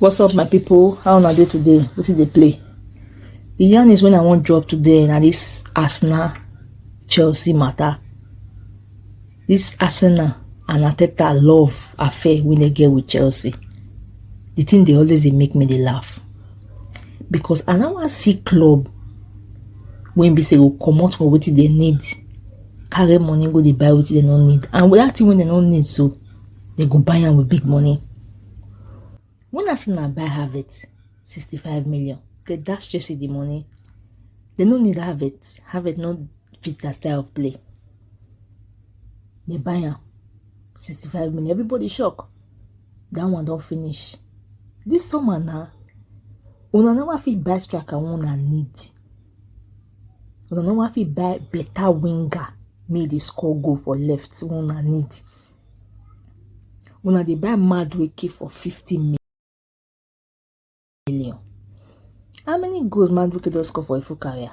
what's up my people how una dey today wetin dey play the yarn is when i wan drop today na this arsenal chelsea matter This Arsenal and Arteta love affair wey dem get with Chelsea, the thing dey always dey make me dey laugh because I no wan see club wey be say go comot for wetin dem need carry money go dey buy wetin dem no need and that thing wey dem no need so dem go buy am with big money. Una say na buy Havertz sixty five million dey dash Chelsea the money dem no need Havertz Havertz no fit their style of play dey buy am sixty five million everybody shock that one don finish this summer na una never fit buy striker wey una need una never fit buy better winger make e dey score goal for left wey una need Una dey buy mad wake for 50 million. How many goals Madueke don score for a full career?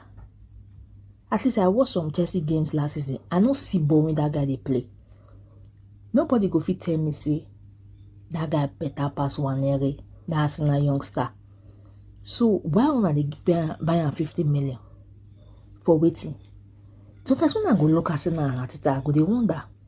At least I watched some Chelsea games last season. I no see ball when that guy dey play. Nobody go fit tell me say that guy better pass Wanere, that Arsenal youngster. So why una dey buy am 50 million for waiting? Sometimes when I go look Arsenal and Arteta, I go dey wonder.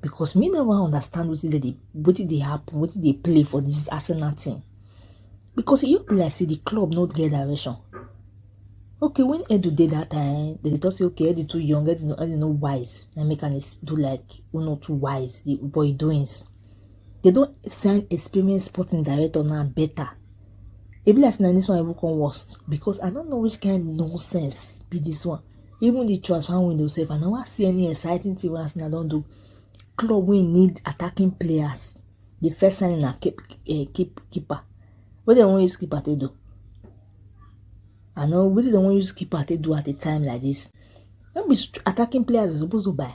because me never understand wetin dey wetin dey happen wetin dey play for this arsenal team because e just be like say the club no get direction okay when edu dey that time dem dey talk say okay edu too young edu no edu no wise na make am do like who no too wise the boy doings they don sign experienced sporting director now better e be like say na this one even come worst because i don't know which kind nonsense be this one Even the transfer window sef, I never see any exciting thing wey Arsenal don do. Club wey need attacking players, the first signing na keep, uh, keep keeper. What they wan use keeper to do? I know what they wan use keeper to do at a time like this. No be attacking players they supposed to buy.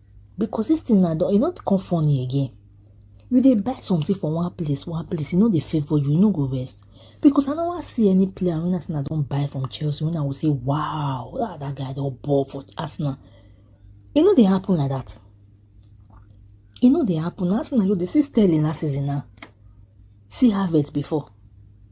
because this thing now e no come funny again you dey buy something for one place one place e no dey favour you you no go rest because i no wan see any player wey arsenal don buy from chelsea wey i go say wow ah that guy don ball for arsenal e no dey happen like that e no dey happen arsenal you dey see sterling last season now see harvard before